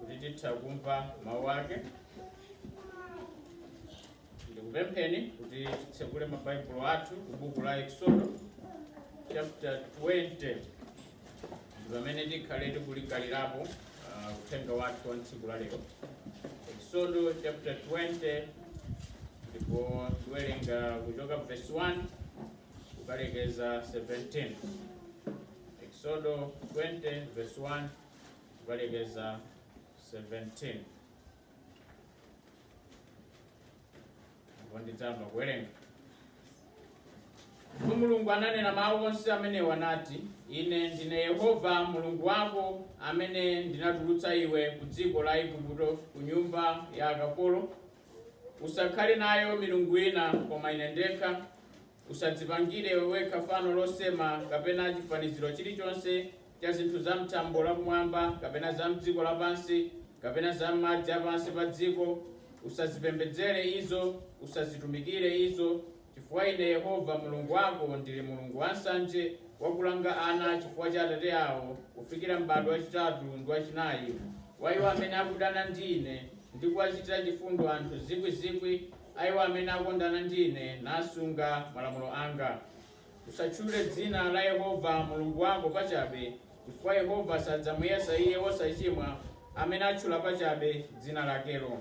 kuti titha kumva mawu ake ndikupempheni kuti titsekule mabaibulo athu ku buku la eksodo chapter 20 ndi pamene tikhale tikulingalirapo uthenga wathu wa tsiku la lero eksodo chapter 20 ndipo tiwerenga kuchoka verse 1 kukalekeza 17 eksodo 20 verse 1 kukalekeza 17 ndidzayamba kuwerenga ndipo mulungu ananena mawu onse amenewa nati ine ndine yehova mulungu wako amene ndinatulutsa iwe ku dziko la igupto ku nyumba ya akapolo usakhale nayo milungu ina koma ine ndekha Usadzipangire wekha fano losema, kapena chifaniziro chilichonse cha zinthu za m'thambo la kumwamba, kapena za m'dziko lapansi, kapena za m'madzi a pansi pa dziko. Usazipembedzere izo, usazitumikire izo, chifukwa Ine Yehova Mulungu wako ndili Mulungu wansanje, wakulanga ana chifukwa cha atate awo, kufikira m'bado wachitatu ndi wachinayi wa iwo amene akudana ndi Ine, ndi kuwachitira chifundo anthu zikwi zikwi, a iwo amene akondana ndi ine nasunga malamulo anga. Usatchule dzina la Yehova Mulungu wako pachabe, chifukwa Yehova sadzamuyesa iye wosachimwa amene atchula pachabe dzina lakelo.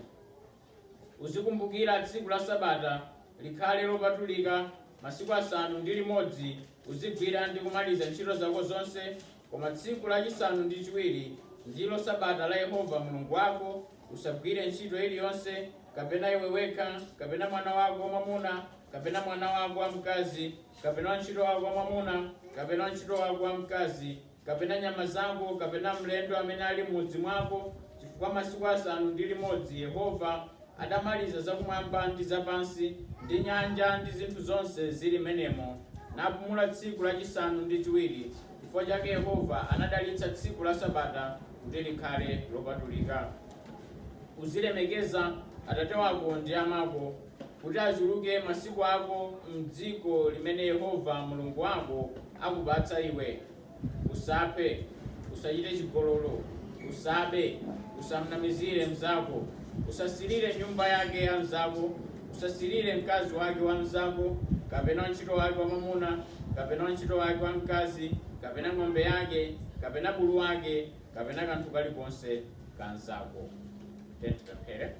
Uzikumbukira tsiku la Sabata, likhale lopatulika, masiku asanu ndi limodzi uzigwira ndi kumaliza ntchito zako zonse, Koma tsiku lachisanu ndi chiwiri ndilo Sabata la Yehova Mulungu wako, usagwire ntchito iliyonse, kapena iwe wekha, kapena mwana wako wamwamuna, kapena mwana wako wamkazi, kapena wantchito wako wamwamuna, kapena wantchito wako wamkazi, kapena nyama zako, kapena mlendo amene ali m'mudzi mwako, chifukwa masiku asanu ndi limodzi Yehova adamaliza zakumwamba ndi zapansi, ndi nyanja, ndi zinthu zonse zili m'menemo, napumula tsiku lachisanu ndi chiwiri. Chifukwa chake Yehova anadalitsa tsiku la Sabata kuti likhale lopatulika. Uzilemekeza atate wako ndi amako, kuti achuluke masiku ako m'dziko limene Yehova Mulungu wako akupatsa iwe. Usaphe. Usachite chigololo. Usabe. Usamnamizire mnzako. Usasirire nyumba yake ya mnzako. Usasirire mkazi wake wa mnzako, kapena wantchito wake wamwamuna, kapena wantchito wake wamkazi, kapena ng'ombe yake, kapena bulu wake, kapena kanthu kalikonse ka mnzako. Tipemphere.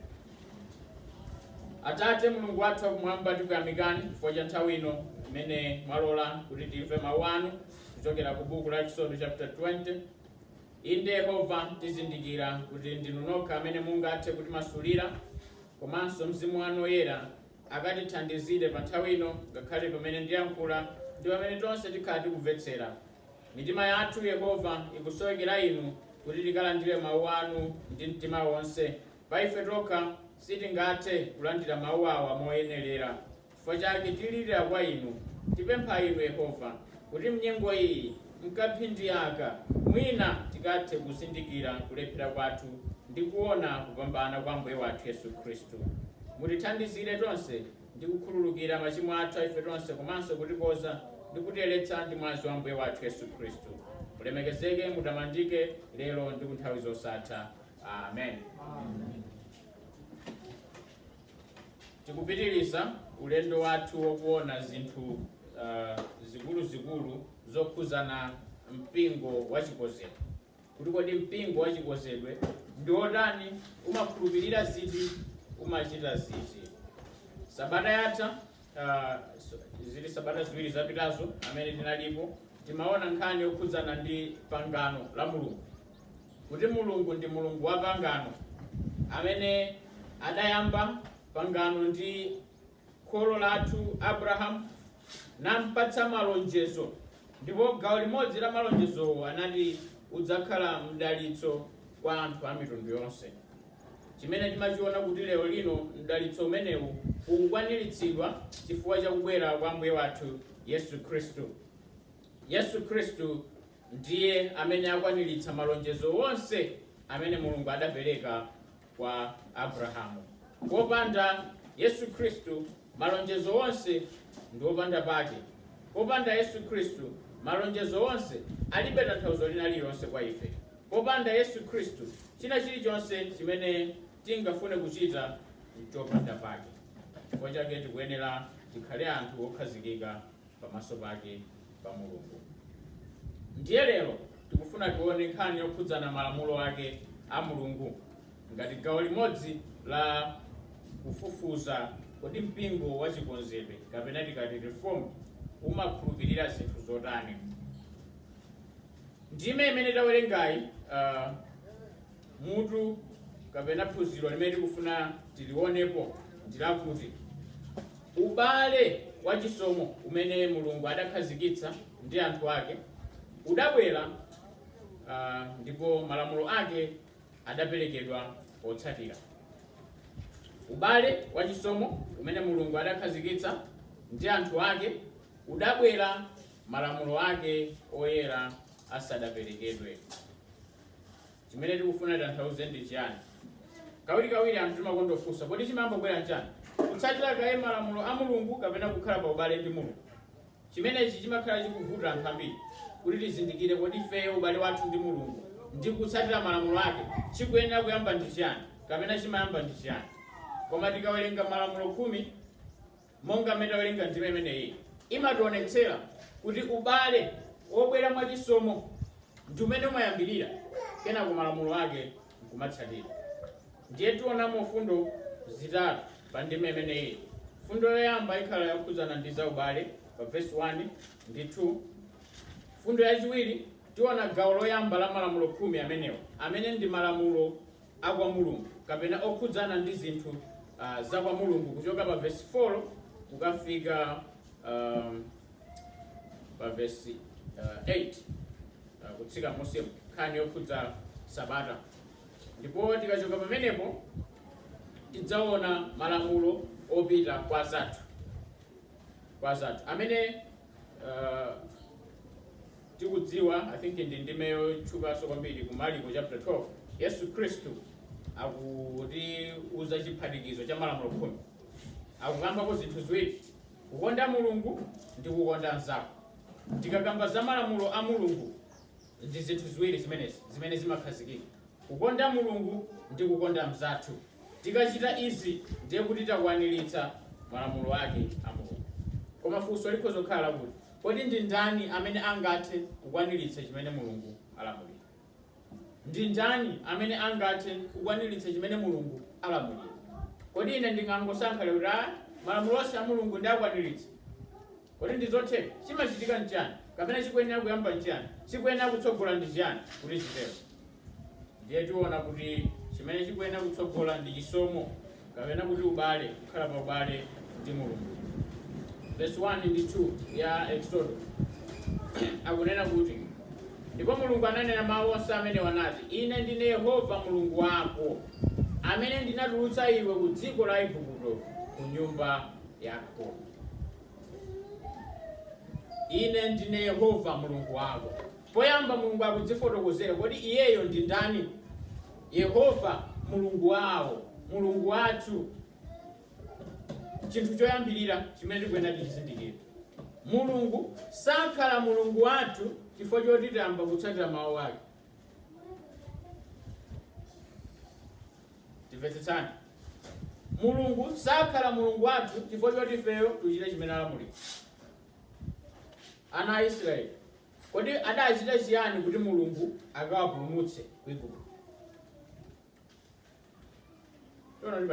Atate Mulungu wathu wakumwamba, tikuyamikani chifukwa cha nthawi ino imene mwalola kuti timve mawu anu kuchokera ku buku la Eksodo chapter 20 Inde, Yehova, tizindikira kuti ndinu nokha amene mungathe kutimasulira, komanso Mzimu wanu Woyera akatithandizire panthawi ino ngakhale pamene ndiyankhula ndi pamene tonse tikhala tikumvetsera. Mitima yathu, Yehova, ikusowekera inu kuti tikalandire Mawu anu ndi mtima wonse. Pa ife tokha sitingathe kulandira Mawu awa moyenelera. Chifukwa chake tilirira kwa Inu, tipempha Inu, Yehova, kuti m'nyengo iyi, m'kamphindi aka, mwina tikathe kuzindikira kulephera kwathu ndi kuona kupambana kwa Ambuye wathu Yesu Khristu. Mutithandizire tonse ndi kukhululukira machimo athu a ife tonse komanso kutikonza ndi kutiyeretsa ndi mwazi wa Ambuye wathu Yesu Khristu. Mulemekezeke, mutamandike, lero ndi kunthawi zosatha. Amen. Tikupitiriza ulendo wathu wokuona zinthu uh, zikuluzikulu zokhudzana mpingo wa chikonzedwe kuti kodi mpingo wa chikonzedwe ndi wotani umakhulupirira ziti umachita ziti sabata yatha uh, zili sabata ziwiri zapitazo amene tinalipo timaona nkhani yokhudzana ndi pangano la mulungu kuti Mulungu ndi Mulungu wa pangano, amene adayamba pangano ndi kholo lathu Abrahamu, nampatsa malonjezo, ndipo gawo limodzi la malonjezowo anati udzakhala mdalitso kwa anthu a mitundu yonse. Chimene timachiona kuti lero lino mdalitso umenewu ukukwaniritsidwa chifukwa cha kubwera kwa Ambuye wathu Yesu Khristu. Yesu Khristu Ndiye amene akwaniritsa malonjezo onse amene Mulungu adapereka kwa Abrahamu. Popanda Yesu Khristu, malonjezo onse ndi opanda pake. Popanda Yesu Khristu, malonjezo onse alibe tanthauzo lina lililonse kwa ife. Popanda Yesu Khristu, china chilichonse chimene tingafune kuchita n'chopanda pake. Chifukwa chake tikuyenera tikhale anthu okhazikika. pamaso pake pa Mulungu. Ndiye lero tikufuna tione nkhani yokhudzana malamulo ake a Mulungu ngati gawo limodzi la kufufuza kodi mpingo wa chikonzedwe kapena tikati reform umakhulupirira zinthu zotani. Ndime imene tawerengayi uh, Mutu kapena phunziro limene tikufuna tilionepo ndi lakuti ubale wachisomo umene Mulungu adakhazikitsa ndi anthu ake udabwera, ah, ndipo malamulo ake adaperekedwa potsatira. Ubale wachisomo umene Mulungu adakhazikitsa ndi anthu ake udabwera malamulo ake oyera asadaperekedwe. chimene tikufuna titanthauze ndi chiyani kawirikawiri anthu timakonda kufunsa kodi chimayambobwera nchani kutsatira kaye malamulo a mulungu kapena kukhala pa ubale ndi mulungu chimenechi chimakhala chikuvuta anthu ambiri kuti tizindikire kodi ifeyo ubale wathu ndi mulungu ndi kutsatira malamulo ake chikuyenera kuyamba ndi chiyani kapena chimayamba ndi chiyani koma tikawerenga malamulo khumi Monga mmene tawerenga ndime imeneyi imationetsera kuti ubale wobwera mwa chisomo ndi umene umayambirira kenako malamulo ake nkumatsatira. Ndiye tionamo fundo zitatu pa ndime imeneyi. Fundo yoyamba ikhala yokhudzana ndi za ubale pa vesi 1 ndi 2. Fundo yachiwiri tiona gawo loyamba la malamulo khumi amenewa amene ndi malamulo a kwa Mulungu kapena okhudzana ndi zinthu ah, za kwa Mulungu kuchoka pa vesi 4 kukafika ah, pa vesi ah, 8 ah, kutsika musemu nkhani yokhudza sabata ndipo tikachoka pamenepo tidzaona malamulo opita kwa anzathu kwa anzathu amene ah, tikudziwa, I think ndi ndime yotchukanso kwambiri ku Maliko chapter 12, Yesu Khristu akutiuza chiphatikizo cha malamulo khumi. Akukambako zinthu ziwiri, kukonda Mulungu ndi kukonda mnzako. Tikakamba za malamulo a Mulungu ndi zinthu ziwiri zimenezi zimene zimakhazikika, kukonda Mulungu ndi kukonda mnzathu. Tikachita izi ndiye kuti takwaniritsa malamulo ake a Mulungu. Koma funso likhoza kukhala lakuti, Kodi ndi ndani amene angathe kukwaniritsa chimene Mulungu alamulira? Ndi ndani amene angathe kukwaniritsa chimene Mulungu alamulira? Kodi ine ndingangosankha lero kuti, a, malamulo onse a Mulungu ndiakwaniritse? Kodi ndi zotheka? Chimachitika nchiyani, kapena chikuyenera kuyamba nchiyani, chikuyenera kutsogola ndi chiyani kuti chitero? Ndiye tiona kuti chimene chikuyenera kutsogola ndi chisomo kapena kuti ubale, kukhala pa ubale ndi Mulungu. Vesi 1 ndi 2 ya Eksodo akunena kuti, Ndipo Mulungu ananena mawu onse amenewa nati, Ine ndine Yehova Mulungu wako, amene ndinatulutsa iwe ku dziko la Igupto, ku nyumba ya akapolo. Ine ndine Yehova Mulungu wako. Poyamba, Mulungu akudzifotokozera. Kodi iyeyo ndi ndani? Yehova, Mulungu wawo, Mulungu wathu. Chinthu choyambirira chimene tikuyenera tichizindikire, Mulungu sakhala Mulungu wathu chifukwa choti tayamba kutsatira mawu ake. Timvetsetsani, Mulungu sakhala Mulungu wathu chifukwa choti ifeyo tichite chimene alamulira. Ana a Israeli Kodi adachita chiyani kuti Mulungu akawapulumutse ku Igupto? Tiona kuti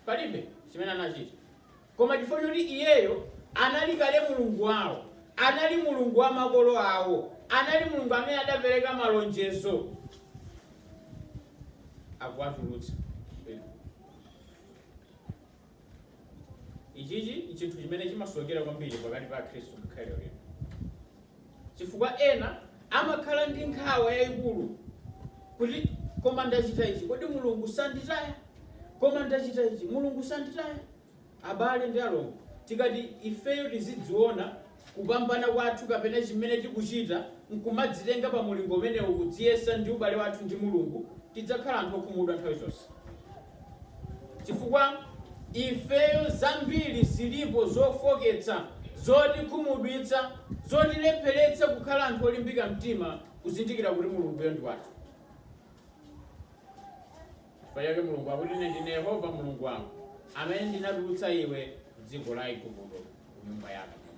palibe chimene anachita, koma chifukwa choti iyeyo anali kale Mulungu wawo, anali Mulungu wa makolo awo, anali Mulungu amene adapereka malonjezo akuwatulutsa ku Igupto. Ichichi n'chinthu chimene chimasokonekera kwambiri pakati pa Akhristu ngakhale lero lino, chifukwa ena amakhala ndi nkhawa yayikulu kuti koma ndachita ichi, kodi Mulungu sanditaya? Koma ndachita ichi, Mulungu sanditaya? Abale ndi alongo, tikati ifeyo tizidziona kupambana kwathu kapena chimene tikuchita n'kumadzitenga pa mulingo umenewu, kudziyesa ndi ubale wathu ndi Mulungu, tidzakhala anthu okhumudwa nthawi zonse. Chifukwa ifeyo zambiri zilipo zofoketsa, zotikhumudwitsa, zotilepheretsa kukhala anthu olimbika mtima kuzindikira kuti Mulunguyo ndi wathu. Chifukwa chake Mulungu akuti, Ine ndine Yehova Mulungu wako, amene ndinatulutsa iwe m'dziko la Aigupto, ku nyumba ya akapolo.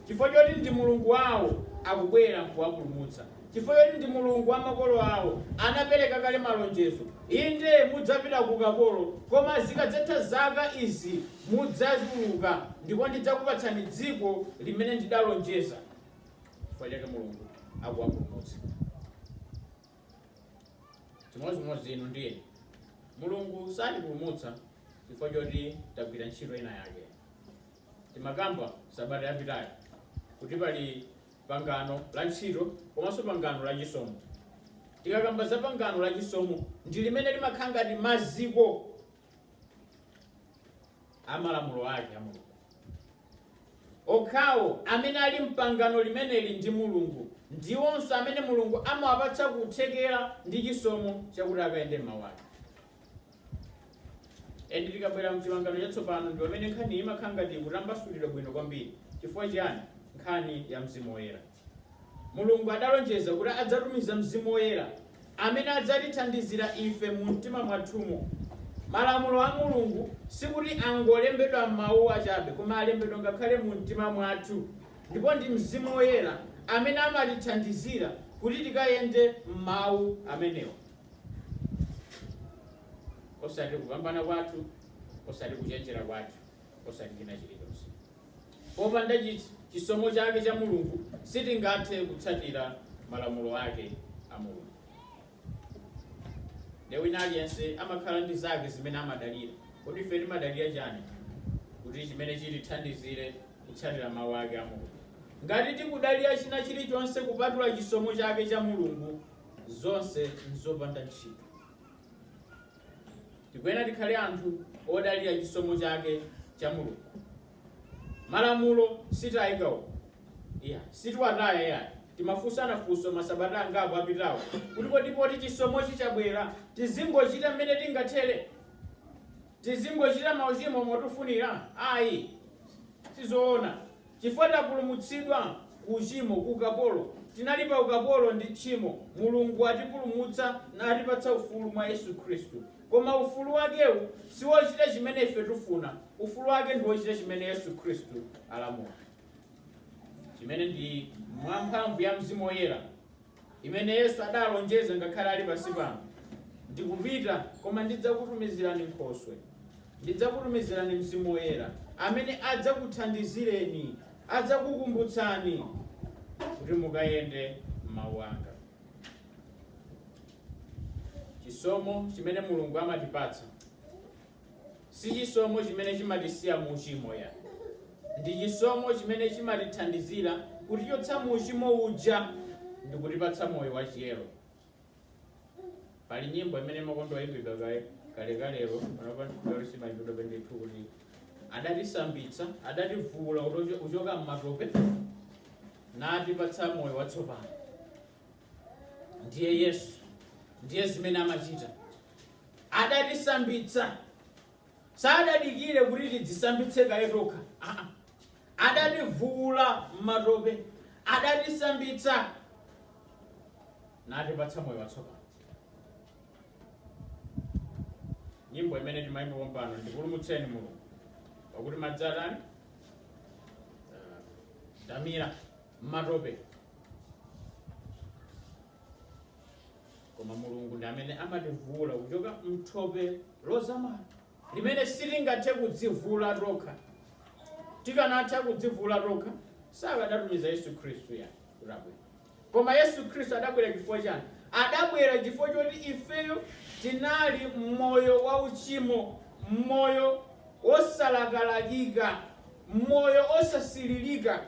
Chifukwa choti ndi Mulungu wawo, akubwera n'kuwapulumutsa. Chifukwa choti ndi Mulungu wa makolo awo, anapereka kale malonjezo. Inde, mudzapita ku ukapolo, koma zikadzatha zaka izi mudzatuluka, ndipo ndidzakupatsani dziko limene ndidalonjeza. Chifukwa chake Mulungu akuwapulumutsa. chimodzimodzi inu ndi ine mulungu satipulumutsa chifukwa choti tagwira ntchito ina yake timakamba sabata yapitayo kuti pali pangano la ntchito komanso pangano la chisomo tikakamba za pangano la chisomo ndi limene limakhala ngati maziko a malamulo ake a mulungu Okhawo amene ali m'pangano limeneli ndi Mulungu ndiwonso amene Mulungu amawapatsa kuthekera ndi chisomo chakuti akayende m'Mau ake. Ende tikabwera m'Chipangano Chatsopano ndi pamene nkhaniyi imakhala ngati ikutambasulidwa bwino kwambiri. Chifukwa chiyani? Nkhani ya Mzimu Woyera. Mulungu adalonjeza kuti adzatumiza Mzimu Woyera amene adzatithandizira ife mu mtima mwathumo. Malamulo a Mulungu sikuti angolembedwa m'mawu achabe koma alembedwa ngakhale mu mtima mwathu ndipo ndi Mzimu Woyera amene amatithandizira kuti tikayende m'mawu amenewa osati kupambana kwathu, osati kuchenjera kwathu, osati china chilichonse. Popanda chisomo chake cha Mulungu, sitingathe kutsatira malamulo ake a Mulungu. Nde wina aliyense amakhala ndi zake zimene amadalira. Kodi ife timadalira chani kuti chimene chitithandizire kutsatira mawu ake a Mulungu? Ngati tikudalira china chilichonse kupatula chisomo chake cha Mulungu, zonse nzopanda ntchito. Tikuyenera tikhale anthu odalira chisomo chake cha Mulungu. Malamulo sitaika. Iya, sitiwataya yayi. Timafunsana funso masabata angapo apitawo kuti kodi poti chisomochi chabwera tizingochita mmene tingathere? Tizingochita mauchimo motufunira? Ayi, sizoona. Chifukwa tapulumutsidwa ku uchimo, ku ukapolo. Tinali pa ukapolo ndi tchimo. Mulungu atipulumutsa natipatsa ufulu mwa Yesu Khristu. Koma ufulu wakewu siwochita chimene ife tifuna. Ufulu wake ndi wochita chimene Yesu Khristu alamula, chimene ndi mwa mphamvu ya Mzimu Woyera. imene Yesu adalonjeza ngakhale ali pansi pano, Ndikupita, koma ndidzakutumizirani nkhoswe. Ndidzakutumizirani Mzimu Woyera, amene adzakuthandizireni, adzakukumbutsani kuti mukayende m'mawu anga. Chisomo chimene Mulungu amatipatsa Si chisomo chimene chimatisiya mu uchimo ya. Ndi chisomo chimene chimatithandizira kutichotsa mu uchimo uja ndikutipatsa moyo wa chiyero. Pali nyimbo imene imakonda kuyimbidwa kaye kalekalero panopa lero simayimbidwa ndithu kuti adatisambitsa adativuula kutocho- kuchoka m'matope natipatsa moyo watsopano. ndiye yesu ndiye zimene amachita adatisambitsa sadadikire kuti tidzisambitse kaye tokha Aa. adativuula m'matope adatisambitsa natipatsa moyo watsopano nyimbo imene timayimba pompano ndipulumutseni mulungu pakuti madzi atani ndamira m'matope koma mulungu ndi amene amativula kuchoka mthope lozamala limene sitingathe kudzivula tokha tikanatha kudzivula tokha sakadatumiza yesu khristu kuti abwere koma yesu khristu adabwera chifukwa chani adabwera chifukwa choti ifeyo tinali mmoyo wa uchimo mmoyo wosalakalakika m'moyo wosasiririka,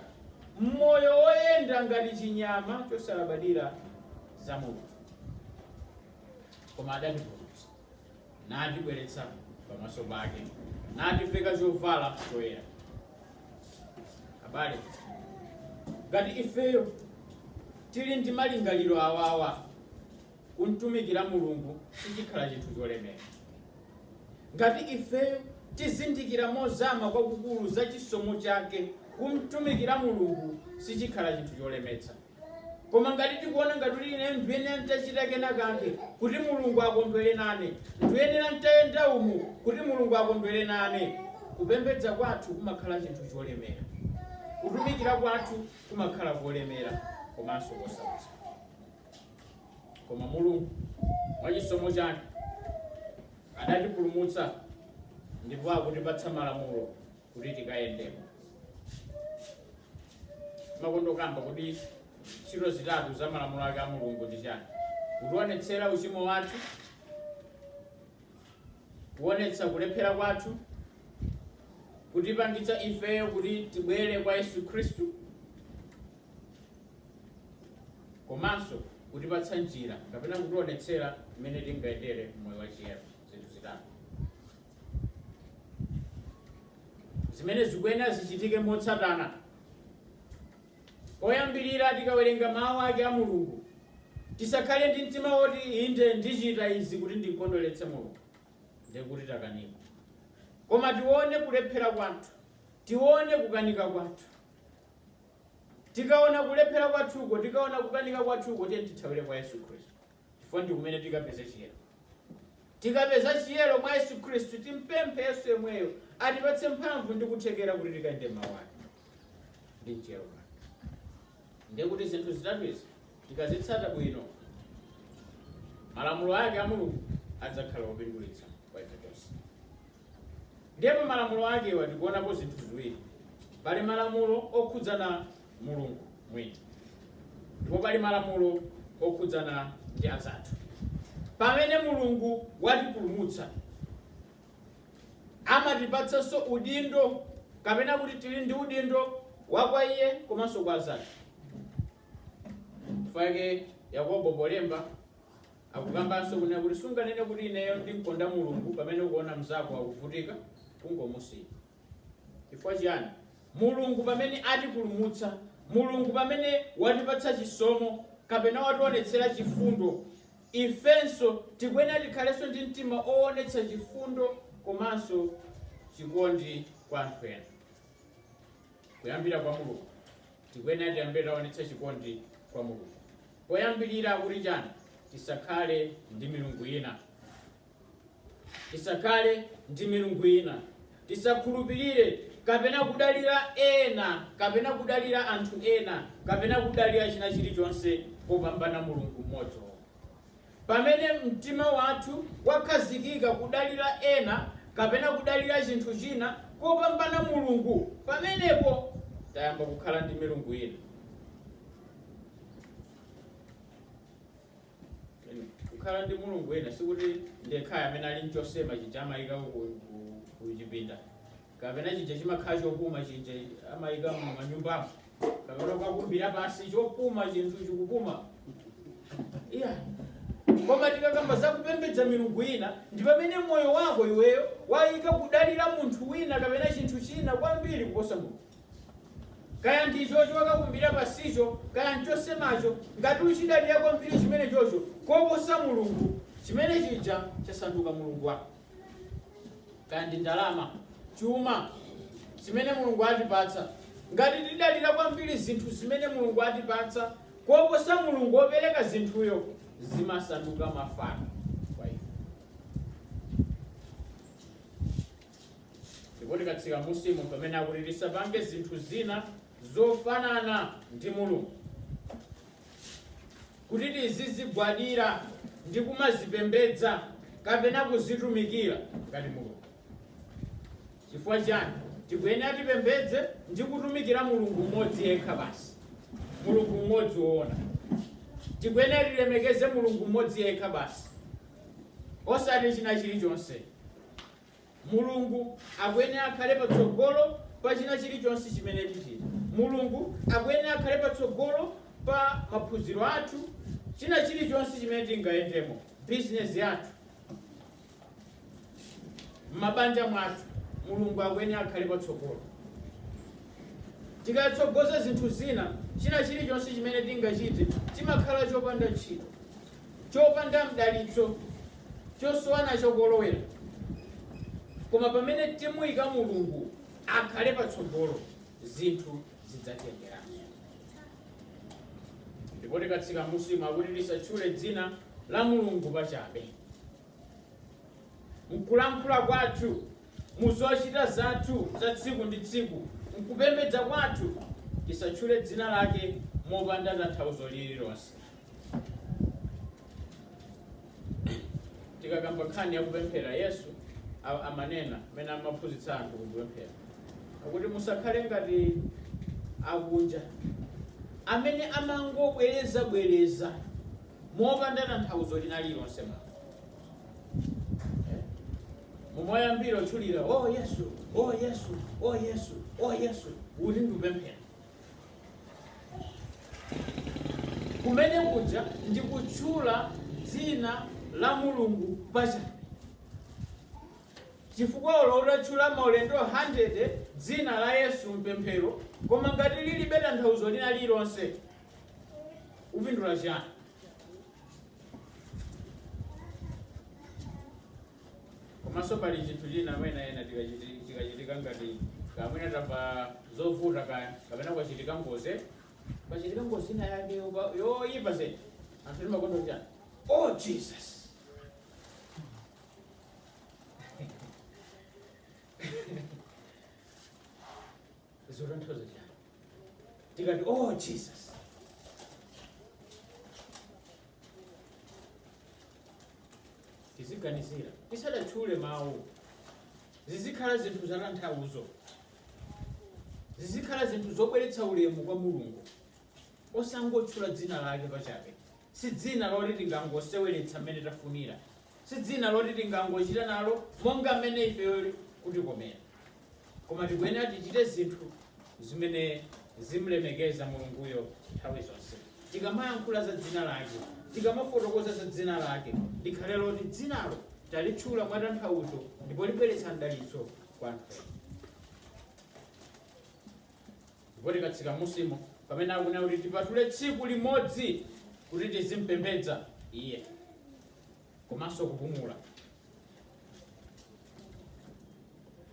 m'moyo woyenda ngati chinyama chosalabadira za Mulungu, koma adatipulumutsa, natibweretsa pamaso pake, nativeka chovala choyera. Abale, ngati ifeyo tili ndi malingaliro awawa, kumtumikira Mulungu sichikhala chinthu cholemera. Ngati ifeyo tizindikira mozama kwakukulu za chisomo chake, kumtumikira Mulungu sichikhala chinthu cholemetsa. Koma ngati tikuona ngati kuti ine ndiyenera nditachita kena kake kuti Mulungu akondwere nane, ndiyenera nditayenda umu kuti Mulungu akondwere nane, kupembedza kwathu kumakhala chinthu cholemera. Kutumikira kwathu kumakhala kolemera komanso kosautsa. Koma Mulungu mwa chisomo chake adatipulumutsa ndipo akutipatsa malamulo kuti tikayendemo. Ndimakondokamba kuti ntchito zitatu za malamulo ake a Mulungu ndi chani? Kutionetsera uchimo wathu, kuonetsa kulephera kwathu, kutipangitsa ifeyo kuti tibwere kwa Yesu Khristu, komanso kutipatsa njira kapena kutionetsera mmene tingayendere moyo wa chiyero zinthu zitatu zimene zikuyenera zichitike motsatana oyambirira tikawerenga mawu ake a mulungu tisakhale ndi mtima woti inde ndichita izi kuti ndikondweretse mulungu ndiye kuti takanika koma tione kulephera kwathu tione kukanika kwathu Tikaona kulephera kwathuko, tikaona kukanika kwathuko, tiyeni tithawire kwa Yesu Khristu chifukwa ndi kumene tikapeze chiyero. Tikapeza chiyero mwa Yesu Khristu, timpemphe Yesu yemweyo atipatse mphamvu ndi kuthekera kuti tikayende m'mawu ake ndi mchiyero chake. Ndiye kuti zinthu zitatu izi tikazitsata bwino, malamulo ake a Mulungu adzakhala opindulitsa kwa ife tonse. Ndiye mu malamulo akewa tikuonapo zinthu ziwiri. Pali malamulo okhudzana Mulungu mwini ndipo pali malamulo okhudzana ndi anzathu. Pamene Mulungu watipulumutsa, amatipatsanso udindo kapena kuti tili ndi udindo wa kwa iye komanso kwa anzathu. Chifukwa chake Yakobo polemba Akukambanso kunena kuti sunganene kuti ineyo ndimkonda Mulungu pamene ukuona mzako akuvutika kungomusiya. Chifukwa chiyani? Mulungu pamene atipulumutsa, Mulungu pamene watipatsa chisomo kapena wationetsera chifundo, ifenso tikuyenera tikhalenso ndi mtima owonetsa chifundo komanso chikondi kwa anthu ena. Kuyambira kwa Mulungu. Tikuyenera tiyambe taonetsa chikondi kwa Mulungu. Poyambilira akuti chani? Tisakhale ndi milungu yina. Tisakhale ndi milungu yina. Tisakhulupilire kapena kudalira ena kapena kudalira anthu ena kapena kudalira chinachilichonse kopambana Mulungu mmodziyo. Pamene mtima wathu wakhazikika kudalira ena kapena kudalira chinthu china kopambana Mulungu, pamenepo tayamba kukhala ndi milungu ina. Kukhala ndi mulungu ina sikuti ndi yekhayo amene ali nchosema chija amaika ku ku chipinda. kapena chija chimakhala chopuma chija amayika mumanyumbamo kapena ukakumbira pasi chopuma chinthu chikupuma iyayi koma tikakamba za kupembedza milungu ina ndi pamene moyo wako iweyo wayika kudalira munthu wina kapena chinthu china kwambiri kuposa mulungu kaya ndichocho wakakumbira pasicho kaya nchosemacho ngati uchidalira kwambiri chimene chocho koposa mulungu chimene chija chasanduka mulungu wako kaya ndi ndalama chuma zimene mulungu atipatsa ngati tidalira kwambiri zinthu zimene mulungu atipatsa koposa mulungu wopereka zinthuyo zimasanduka mafano kwa ife ndipo tikatsika munsimu pamene akuti tisapange zinthu zina zofanana ndi mulungu kuti tizizigwadira ndi kumazipembedza kapena kuzitumikira ngati mulungu chifukwa chani tikuyenera tipembedze ndi kutumikira mulungu mmodzi yekha basi mulungu mmodzi woona tikuyenera tilemekeze mulungu mmodzi yekha basi osati china chilichonse Mulungu akuyenera akhale patsogolo pa china chilichonse chimene tichita. Mulungu akuyenera akhale patsogolo pa maphunziro athu, china chilichonse chimene tingayendemo, bizinezi yathu, m'mabanja mwathu. Mulungu akuyenera akhale patsogolo. Tikatsogoza zinthu zina, china chilichonse chimene tingachite chimakhala chopanda ntchito. chopanda mdalitso chosowa nacho kolowera koma pamene timuyika mulungu akhale patsogolo zinthu zidzatiyendera ndipo tikatsika musimu akuti tisatchule dzina la mulungu pachabe M'kulankhula kwathu, mu zochita zathu za tsiku ndi tsiku, m'kupembedza kwathu, tisatchule dzina lake mopanda tanthauzo lililonse. Tikakamba nkhani ya kupemphera, Yesu a- amanena mmene amaphunzitsa anthu kupemphera akuti, musakhale ngati akunja amene amangobwerezabwereza mopanda tanthauzo lina lilonse mumayamba kutchulira o yesu o yesu o yesu o yesu kuti ndikupemphera kumene kuja ndi kutchula dzina la mulungu pachabe chifukwa olo utatchula maulendo 100 dzina la yesu mpemphero koma ngati lilibe tanthauzo lina lilonse upindula chiyani komanso pali chinthu china amene ena tikachiti- tikachitika ngati mwina tamva zovuta kaya kapena kwachitika ngozi kwachitika ngozi ina yake yoba- yoyipa zedi anthu timakonda chiyani oh jesus zotanthauza chiyani tikati oh jesus tiziganizira tisadatchule mawu zizikhala zinthu zatanthauzo zizikhala zinthu zobweretsa ulemu kwa mulungu osangotchula dzina lake pachabe si dzina loti tingangoseweretsa mmene tafunira si dzina loti tingangochita nalo monga mmene ifeyo kutikomera Koma tikuyenera tichite zinthu zimene zimlemekeza Mulunguyo nthawi zonse. Tikamayankhula za dzina lake, tikamafotokoza za dzina lake, likhale loti dzinalo talitchula mwa tanthauzo ndipo libweretsa mdalitso kwa anthu ena. Ndipo tikatsika musimu pamene akunena kuti tipatule tsiku limodzi kuti tizimpembedza iye. komanso kupumula.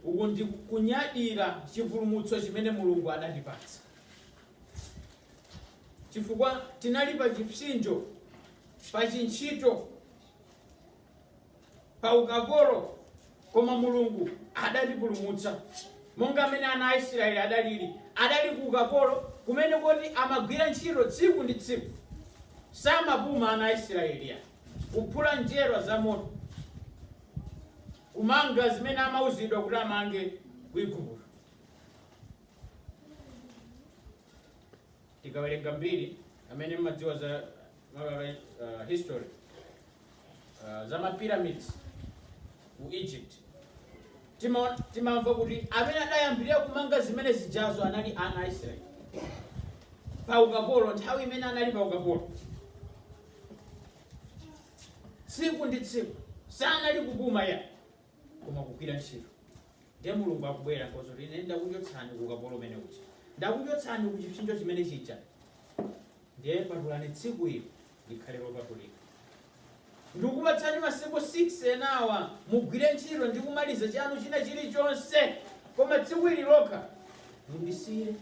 Uku ndi kunyadira chipulumutso chimene Mulungu adatipatsa, chifukwa tinali pa chipsinjo, pa chintchito, pa ukapolo, koma Mulungu adatipulumutsa monga mmene ana a Israeli adalili, adali ku ukapolo kumene koti amagwira ntchito tsiku ndi tsiku, samapuma ana a Israeli. kuphula njerwa za moto, kumanga zimene amauzidwa kuti amange ku Igupto. Tikawerenga mbiri amene mmadziwa za mababa, uh, history uh, za ma pyramids ku Egypt tima- timamva kuti amene adayambirira kumanga zimene zijazo anali ana a Israeli pa ukapolo nthawi imene anali pa ukapolo tsiku ndi tsiku sanali kupuma ayi koma kugwira ntchito ndiye mulungu akubwera nkozo kuti ine ndakuchotsani ku ukapolo umene uja ndakuchotsani ku chipsinjo chimene chija ndiye patulani tsiku ili likhale lopatulika ndikupatsani masiku 6 enawa mugwire ntchito ndi kumaliza chanu china chilichonse koma tsiku ili lokha mundisiyire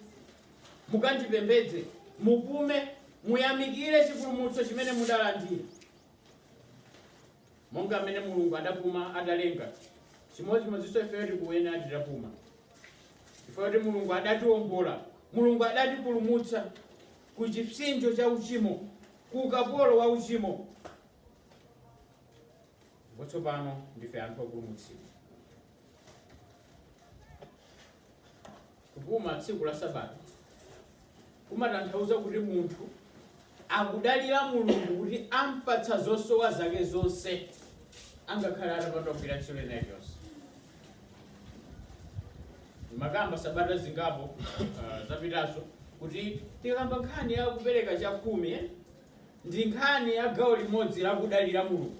mukandipembedze, mupume, muyamikire chipulumutso chimene mudalandira, monga mmene Mulungu adapuma atalenga chimodzimodzinso ifeyo tikuyenera titapuma chifukwa kuti Mulungu adatiwombola, Mulungu adatipulumutsa ku chipsinjo cha uchimo, ku ukapolo wa uchimo. Ndipo tsopano ndife anthu opulumutsidwa. Kupuma tsiku la Sabata kumatanthauza kuti munthu akudalira Mulungu kuti ampatsa zosowa zake zonse angakhale atapanda kugwira ntchito ina iliyonse. Mmakamba sabata zingapo uh, zapitazo kuti tikamba nkhani ya kupereka chakhumi eh? ndi nkhani ya gawo limodzi la kudalira Mulungu.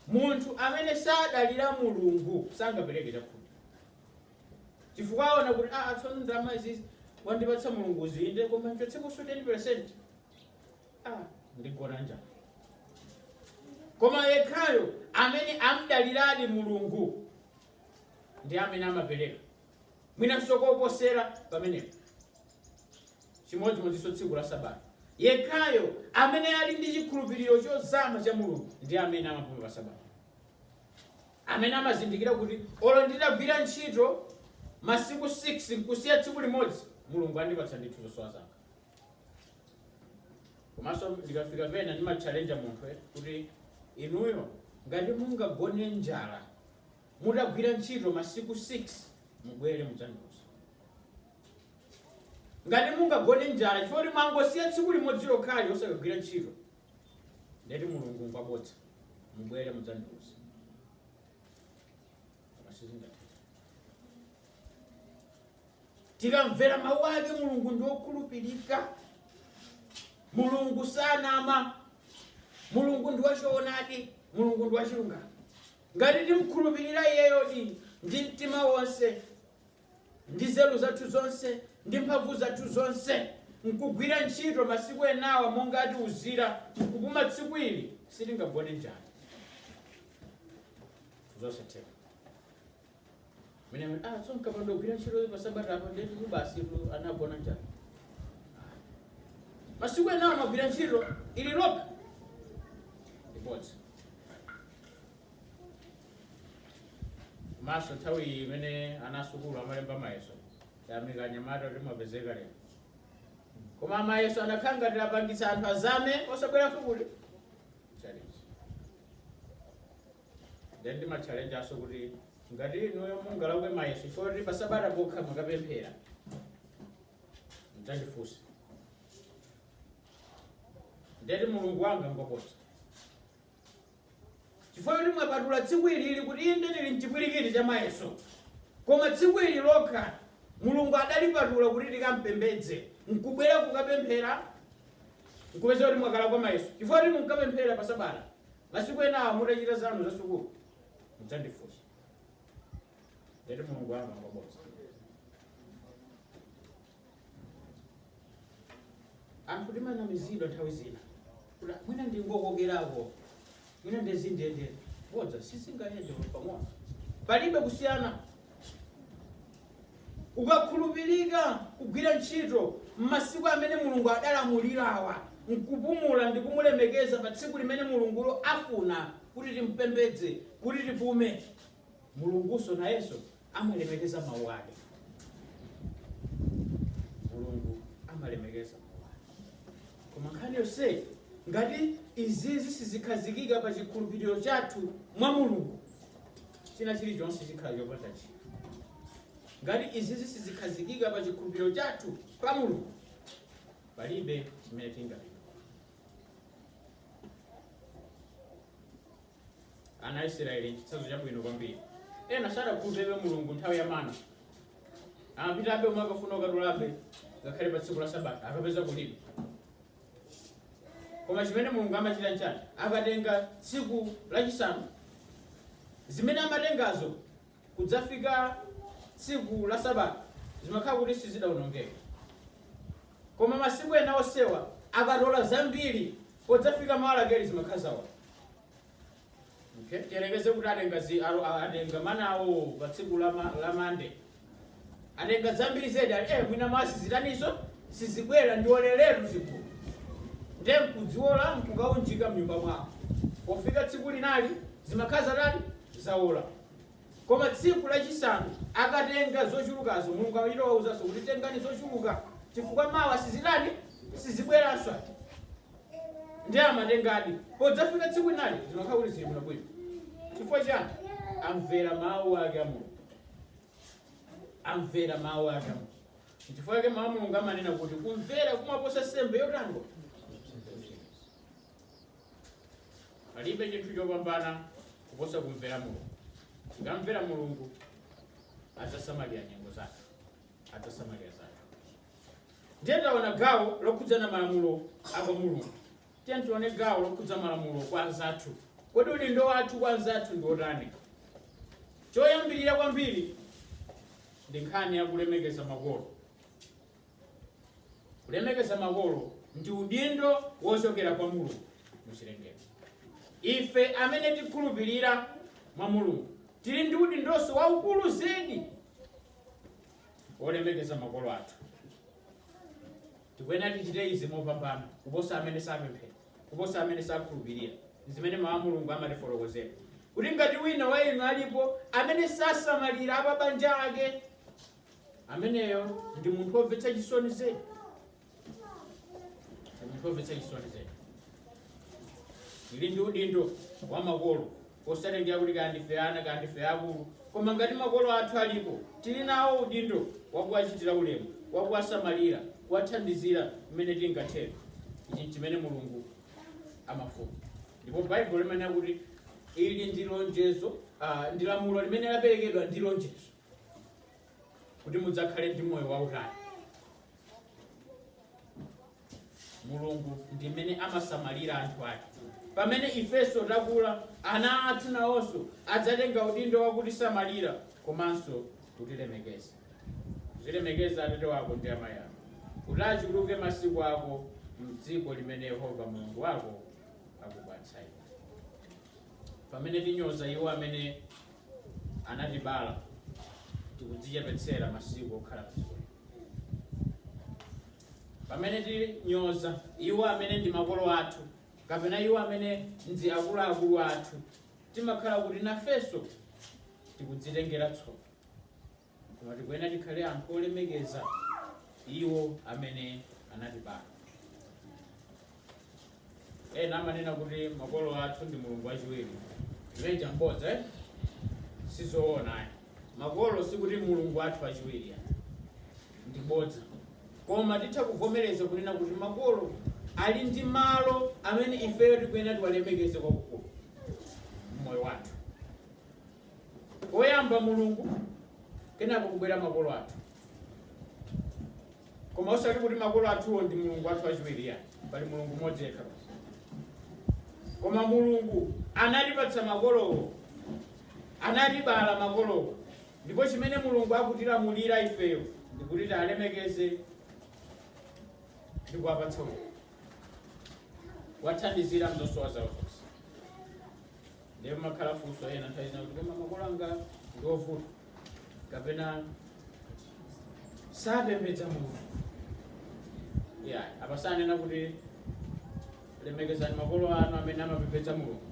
Munthu amene sadalira Mulungu sangapereke chakhumi. chifukwa aona kuti aa tsono ndalama izizi wandipatsa mulungu inde koma nchotsekonso 10 percent ah ndigona njala koma yekhayo amene amadaliradi mulungu ndi amene amapereka mwinanso koposera pamenepo chimodzimodzinso tsiku la sabata yekhayo amene ali ndi chikhulupiriro chozama cha mulungu ndi amene amapuma pa sabata amene amazindikira kuti olo nditagwira ntchito masiku 6 nkusiya tsiku limodzi mulungu andipatsa ndithu zosowa zanga komanso ndikafika pena ndimatchalenja munthu eh, kuti inuyo ngati mungagone njala mutagwira ntchito masiku 6 mubwere mudzandiuza ngati mungagone njala chifukwa kuti mwangosiya tsiku limodzi lokhali osakagwira ntchito ndeti mulungu ngwabodza mubwere mudzandiuze koma sizingathe tikamvera mawu ake mulungu ndi wokhulupirika mulungu sanama mulungu ndi wachoonadi mulungu ndi wachilungamo ngati timkhulupirira iyeyo ndi ndi mtima wonse ndi nzeru zathu zonse, ndi mphamvu zathu zonse, nkugwira ntchito masiku enawa monga atiuzira, nkupuma tsiku ili, sitingagone njala. Zosatheka. Mene ah, so mkapanda kugwira ntchito pa sabata apo ndeti ku basi ku anagona njala. Masiku enawa magwira ntchito ili lokha. Ndi bodza. komanso nthawi iyi imene ana asukulu amalemba mayeso tayamika anyamata kuti mwapezeka lero koma mayeso anakhala ngati apangitsa anthu azame osabwera sukulu challenge then ndimatchallenge aso kuti ngati inuyo mungalakwe mayeso choti pasabata pokha mwakapemphera mdzandifunse ndeti mulungu wanga ngwabodza chifukwa kuti mwapatula tsiku ilili kuti inde ndili mchipwirikiti cha mayeso koma tsiku ili lokha mulungu adalipatula kuti tikampembedze nkubwera kukapemphera nkupeza kuti mwakalakwa mayeso chifukwa kuti munkapemphera pa sabata masiku enawa mutachita zanu za sukulu mudzandifunsa ndeti mulungu wanga ngwabodza anthu timanamizidwa nthawi zina kuti mwina ndingokokerako mwina nde zindiyende bodza sizingayende pamodzi palibe kusiyana ukakhulupirika kugwira ntchito m'masiku amene mulungu adalamulirawa nkupumula ndi kumulemekeza pa tsiku limene mulungulo afuna kuti timpembedze kuti tipume mulungunso nayenso amalemekeza mawu ake mulungu amalemekeza mawu ake koma nkhani yonseyi ngati izizi sizikhazikika pa chikhulupiriro chathu mwa mulungu china chilichonse chikhala chopanda ntchito ngati izizi sizikhazikika pa chikhulupiriro chathu pa mulungu palibe chimene tingapindule Ana a Isiraeli n'chitsanzo chabwino kwambiri. Ena sadakhulupirebe Mulungu nthawi ya mana. Amapitabe omwe akafuna kukatolabe ngakhale pa tsiku la Sabata akapeza kulibe. Koma chimene Mulungu amachita nchani? Akatenga tsiku lachisanu, zimene amatengazo kudzafika tsiku la Sabata zimakhala kuti sizidaonongeke. Koma masiku ena onsewa akatola zambiri podzafika mawa lakeli zimakhala zaola. Okay. Tiyerekeze kuti alo- atenga manawo pa tsiku la ma- la Mande Atenga zambili zedi ali eh mwina mawa sizitaniso sizibwela ndioleletu zikulu nde nkudziwola nkukaunjika mnyumba mwawo pofika tsiku linali zimakhala zatani zaola koma tsiku lachisanu akatenga zochulukazo mulungu amachita kuwauzaso kuti tengani zochuluka chifukwa mawa sizitani sizibwelanso ati ndi amatengadi podzafika tsiku linali zimakhala kuti zili bwinobwino chifukwa chani amvera mawu ake a mulungu amvera mawu ake chifukwa chake mawu a mulungu amanena kuti kumvera kumaposa nsembe yotani palibe chinthu chopambana kuposa kumvera mulungu tikamvera mulungu adzasamalira nyengo zathu adzasamalira zathu ndiye taona gawo lokhudza malamulo a kwa mulungu Tiyeni tione gawo lokhudza malamulo kwa anzathu. Kodi udindo wathu kwa anzathu ndi wotani? Choyambirira kwambiri ndi nkhani ya kulemekeza makolo. Kulemekeza makolo ndi udindo wochokera kwa Mulungu mu chilengedwe. Ife amene tikhulupirira mwa Mulungu tili ndi udindonso waukulu zedi wolemekeza makolo athu. Tikuyenera tichite izi mopambana kuposa amene sapemphera, kuposa amene sakhulupilira. Ndizimene Mau a Mulungu amatifotokozera kuti ngati wina wa inu alipo amene sasamalira apabanja ake, ameneyo ndi munthu womvetsa chisoni zedi, ndi munthu womvetsa chisoni zedi. Tili ndi udindo wa makolo Kosatengera kuti kaya ndife ana kaya ndife akulu, koma ngati makolo athu alipo, tili nawo udindo wa kuwachitira ulemu, wa kuwasamalira, kuwathandizira mmene tingathere. Ichi n'chimene Mulungu amafuna. Ndipo Baibulo limanena kuti ili ndi lonjezo, ah, ndi lamulo limene laperekedwa ndi lonjezo. kuti mudzakhale ndi moyo wautali mulungu ndi mmene amasamalira anthu ake pamene ifenso takula ana athu nawonso adzatenga udindo wakutisamalira komanso kutilemekeza uzilemekeza atate wako ndi amayi ako kuti achuluke masiku ako mdziko limene yehova mulungu wako akupatsa iwe pamene tinyoza iwo amene anatibala tikudzichepetsera masiku okhala padziko lino. Pamene tinyoza iwo amene ndi makolo athu kapena iwo amene ndi akuluakulu athu, timakhala kuti nafenso tikudzitengera tsoka. Koma tikuyenera tikhale anthu olemekeza iwo amene anatibala. Ena amanena kuti makolo athu ndi mulungu wachiwiri. Limene lija mbodza eh? sizoona ayi. Makolo sikuti mulungu athu wachiwiri ayi. ndi bodza. Koma titha kuvomereza kunena kuti makolo ali ndi malo amene ifeyo tikuyenera tiwalemekeze kwakukulu mmoyo wathu. Oyamba Mulungu, kenako kubwera makolo athu. Koma osati kuti makolo athuwo ndi Mulungu athu wachiwiri ayi, pali Mulungu mmodzi yekha basi. Koma Mulungu anatipatsa makolowo, anatibala makolowo, ndipo chimene Mulungu akutilamulira ifeyo ndi kuti tiwalemekeze ndi kuwapatsa ulemu, kuwathandizira mzosowa zawo zonse. ndiye pamakhala funso ena nthawi zina kuti koma makolo anga ndi ovuta kapena sapembedza mulungu apa sanena kuti lemekezani makolo anu amene amapembedza mulungu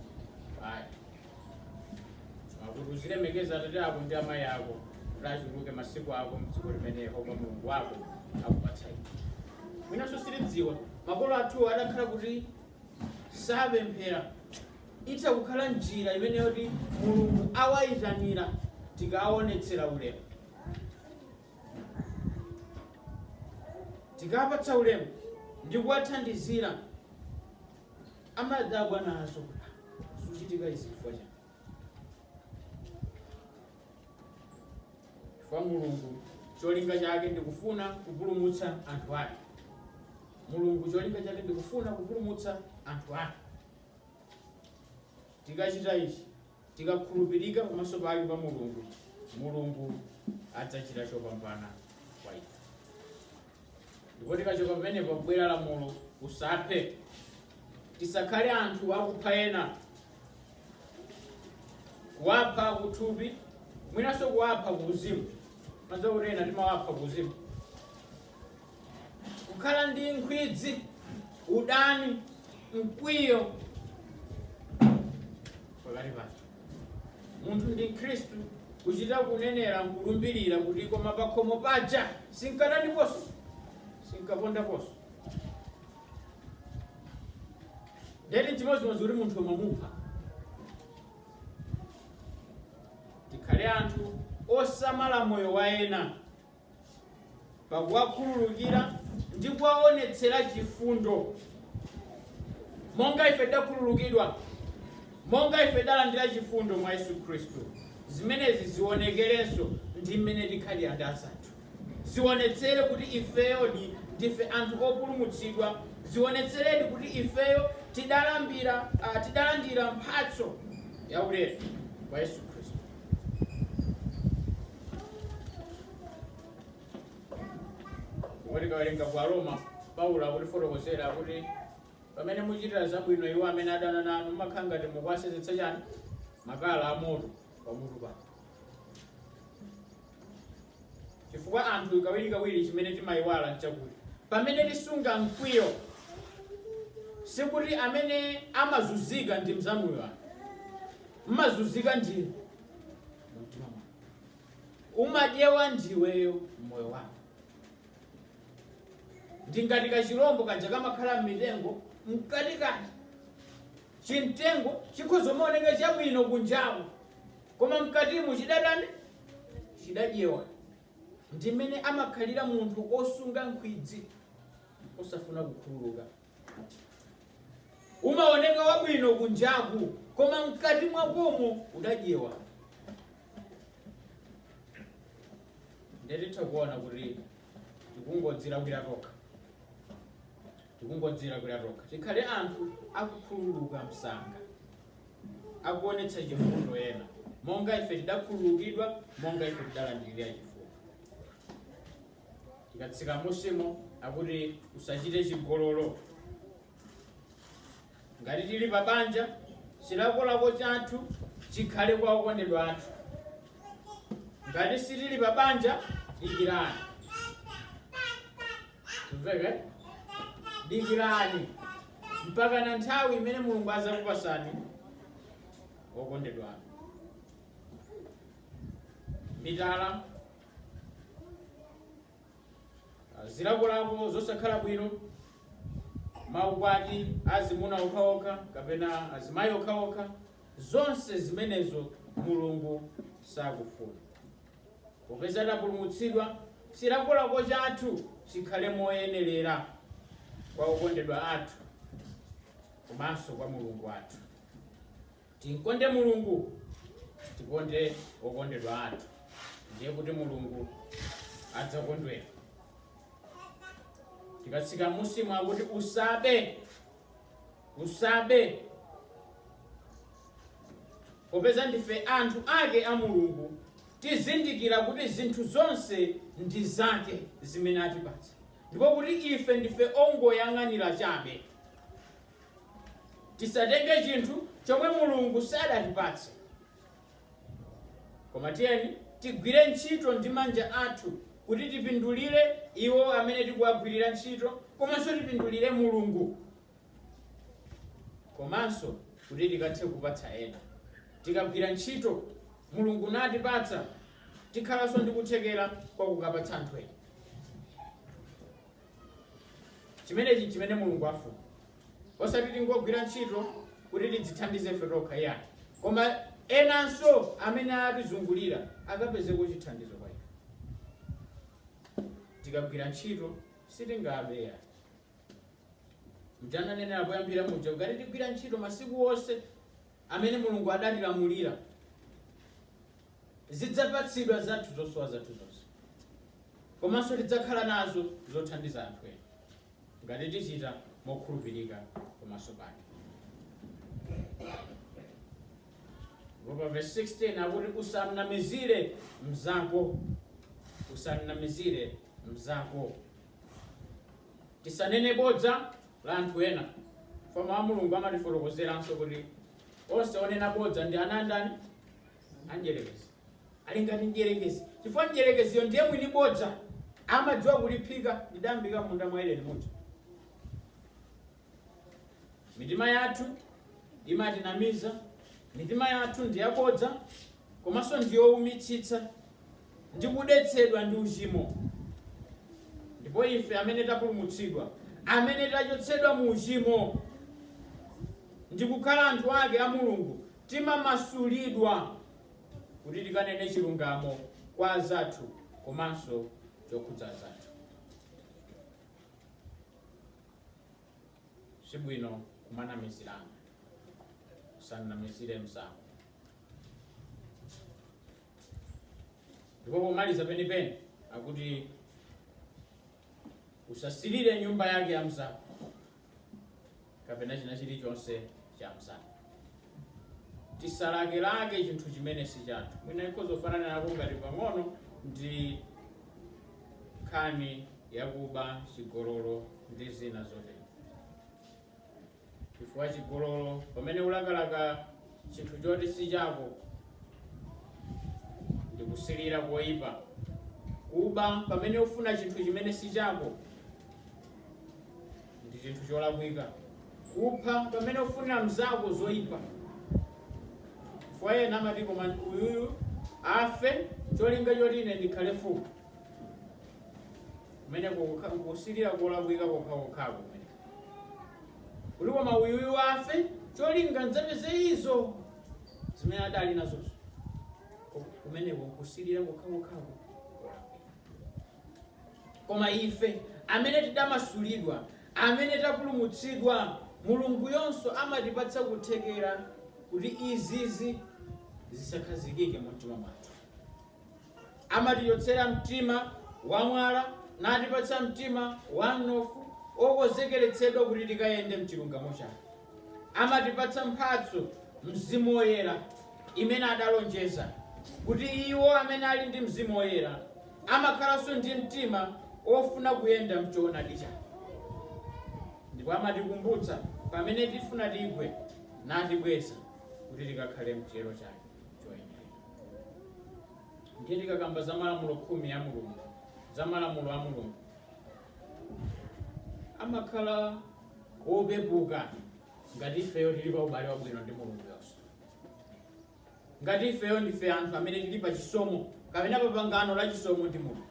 ayi akuti uzilemekeza atate ako ndi amayi ako kuti achuluke masiku ako mdziko limene yehova mulungu wako akupatsa iwe mwinanso sitidziwa makolo athu atakhala kuti sapemphera Itha kukhala njira imeneyo yoti Mulungu awayitanira tikawaonetsera ulemu. Tikawapatsa ulemu ndi kuwathandizira amadabwa nazo kuti ah, zikuchitika izi chifukwa chani? Chifukwa Mulungu cholinga chake ndikufuna kupulumutsa anthu ake. Mulungu cholinga chake ndikufuna kupulumutsa anthu ake. Tikachita ichi, tikakhulupirika pamaso pake pa Mulungu, Mulungu adzachita chopambana kwa ife. Ndipo tikachoka pamenepo kubwera lamulo, usaphe, tisakhale anthu akupha ena, kuwapha kuthupi, mwinanso kuwapha kuuzimu. Mmadziwa kuti ena timawapha kuuzimu, kukhala ndi nkhwidzi udani mkwiyo pakati pathu munthu ndi mkhristu kuchita kunenera nkulumbirira kuti koma pakhomo paja sinkataniponso sinkapondaponso ndeti chimodzimodzi kuti munthu umamupha tikhale anthu osamala moyo wa ena pakuwakhululukira ndi kuwaonetsera chifundo monga ife takhululukidwa monga ife talandira chifundo mwa yesu khristu zimenezi zionekerenso ndi mmene tikhalira ndi anzathu zionetsere kuti ifeyodi ndife anthu opulumutsidwa zionetseredi kuti ifeyo tidalandira mphatso yaulere kwa yesu khristu Koma tikawerenga ku Aroma, Paulo akutifotokozera kuti pamene muchitira zabwino iwo amene adana nanu mumakhala ngati mukuwasenzetsa chani makala amoto pamutu pawo. Chifukwa anthu kawirikawiri chimene timayiwala nchakuti pamene tisunga mkwiyo sikuti amene amazunzika ndi mzanuyo mmazunzika ndinu mumtima mwako umadyewa ndiweyo mmoyo wako ndingati kachilombo kaja kamakhala mmitengo mkatikati chimtengo chikhoza maoneka chabwino kunjaku koma mkatimo chidatani chidadyewa ndimene amakhalira munthu osunga nkhwidzi osafuna kukhululuka umaoneka wabwino kunjaku koma mkati mwakomo udadyewa ndetitha kuona kuti tikungodzilakwira tokha tikungodzilakwira tokha tikhale anthu akukhululuka msanga akuonetsa chifundo kwa ena monga ife tidakhululukidwa monga ife tidalandirira chifundo tikatsika musimo akuti usachite chigololo ngati tili pa banja chilakolako chathu chikhale kwa okondedwa athu ngati sitili pa banja dikirani mveke dikirani mpaka na nthawi imene mulungu adzakupatsani okondedwa anu mitala zilakolako zosakhala bwino maukwati azimuna okhaokha kapena azimayi okhaokha zonse zimenezo mulungu sakufuna popeza tapulumutsidwa chilakolako chathu chikhale moyenerera kwa okondedwa athu komanso kwa mulungu wathu Timkonde Mulungu, tikonde okondedwa athu, ndiye kuti Mulungu adzakondwera. Tikatsika musimo akuti usabe, usabe, popeza ndife anthu ake a Mulungu, tizindikira kuti zinthu zonse ndi zake zimene atipatsa, ndipo kuti ife ndife ongoyang'anira chabe. Tisatenge chinthu chomwe Mulungu sadatipatse. Koma tiyeni tigwire ntchito ndi manja athu kuti tipindulire iwo amene tikuwagwirira ntchito komanso tipindulire Mulungu. Komanso kuti tikathe kupatsa ena. Tikagwira ntchito Mulungu natipatsa, tikhalanso ndi kuthekera kwa kukapatsa anthu ena. chimenechi nchimene mulungu afuna osati tingogwira ntchito kuti tidzithandize ife tokha iyayi koma enanso amene atizungulira akapezeko chithandizo kwa ife tikagwira ntchito sitingabeya mja ndanenera poyambira muja ngati tigwira ntchito masiku onse amene mulungu adatilamulira tidzapatsidwa zathu zosowa zathu zonse komanso tidzakhala nazo zothandiza anthu ena ngati tichita mokhulupirika pamaso pake pa verse 16 akuti usamnamizire mzako usamnamizire mzako tisanene bodza la anthu ena mau a mulungu amatifotokozeranso kuti onse onena bodza ndi ana andani a Mdyerekezi. Ali ngati Mdyerekezi chifukwa Mdyerekeziyo ndiye mwini bodza, amadziwa kuliphika. Ndi dam'mbika m'munda mwa Edeni muja. Mitima yathu imatinamiza, mitima yathu ndi yabodza komanso ndi youmitsitsa ndi kudetsedwa ndi uchimo. Ndipo ife amene tapulumutsidwa, amene tachotsedwa mu uchimo ndi kukhala anthu ake a Mulungu, Timamasulidwa kuti tikanene chilungamo kwa anzathu komanso chokhudza anzathu. Si bwino kumanamizirana. Usanamizire mnzako. Ndipo pomaliza penipeni akuti Usasilire nyumba yake ya mzako kapena china chilichonse cha mzako. Tisalakelake chinthu chimene si chathu. Mwina ikhoza kufananako ngati pang'ono ndi nkhani yakuba, chigololo ndi zina zotero. chifukwa chigololo pamene ulakalaka chinthu choti si chako ndi kusilira koyipa kuba pamene ufuna chinthu chimene si chako ndi chinthu cholakwika kupha pamene ufunira mzako zoyipa chifukwa ena amati koma uyuyu afe cholinga choti ine ndikhale mfumu kumeneko kusilira kolakwika kokhakokhako kumeneko kuti koma uyuyu afe cholinga ndzapeze izo zimene adali nazozo Ku- kumeneko kusilira kokhakokhako koma ife amene tidamasulidwa amene tapulumutsidwa mulunguyonso amatipatsa kuthekera kuti izizi zisakhazikike mu mtima mwathu Amatichotsera mtima wamwala, natipatsa mtima wamnofu, wokonzekeretsedwa kuti tikayende m'chilungamo chake. Amatipatsa mphatso, Mzimu Woyera, imene adalonjeza, kuti iwo amene ali ndi Mzimu Woyera amakhalanso ndi mtima wofuna kuyenda m'choonadi chake. Ndipo amatikumbutsa pamene tifuna tigwe, natibweza kuti tikakhale m'chiyero chake choyenera. ndiye tikakamba za malamulo khumi a mulungu za malamulo a mulungu amakhala wopepuka ngati ifeyo tili pa ubale wabwino ndi mulunguyonso ngati ifeyo ndife anthu amene tili pa chisomo kapena pa pangano la chisomo ndi mulungu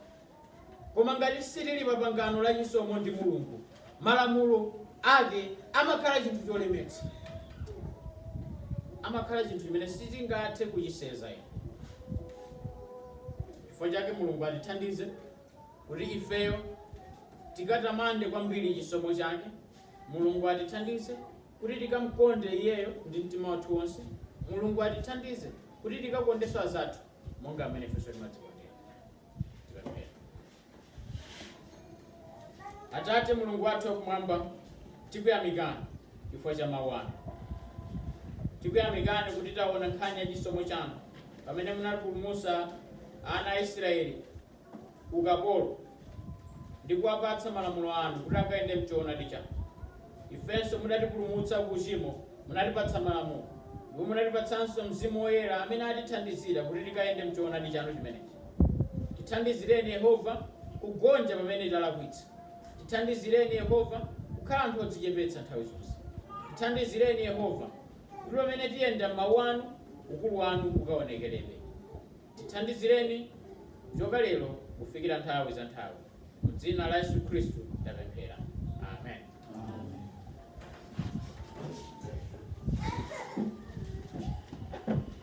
Koma ngati sitili pa pangano la chisomo ndi Mulungu, malamulo Ake amakhala chinthu cholemetsa. Amakhala chinthu chimene sitingathe kuchisenza. Chifukwa chake Mulungu atithandize kuti ifeyo tikatamande kwambiri chisomo Chake. Mulungu atithandize kuti tikamkonde Iyeyo ndi mtima wathu wonse. Mulungu atithandize kuti tikakondenso azathu monga m'mene ifenso timadzikondera. atate mulungu wathu wakumwamba tikuyamikani chifukwa cha mawu anu tikuyamikani kuti taona nkhani ya chisomo chanu pamene munapulumutsa ana a israeli ukapolo ndi kuwapatsa malamulo anu kuti akayende mchoonadi chanu Ifenso mudatipulumutsa ku uchimo, munatipatsa Malamulo, ndipo munatipatsanso Mzimu Woyera amene atithandizira kuti tikayende m'choonadi chanu chimenechi. Tithandizireni, Yehova, kugonja pamene talakwitsa. Tithandizireni, Yehova, kukhala anthu odzichepetsa nthawi zonse. Tithandizireni, Yehova, kuti pamene tiyenda m'mawu anu, ukulu wanu ukaonekeredi. Tithandizireni kuchoka lero kufikira nthawi za nthawi. Mu dzina la Yesu Khristu tapemphera. Amen. Amen.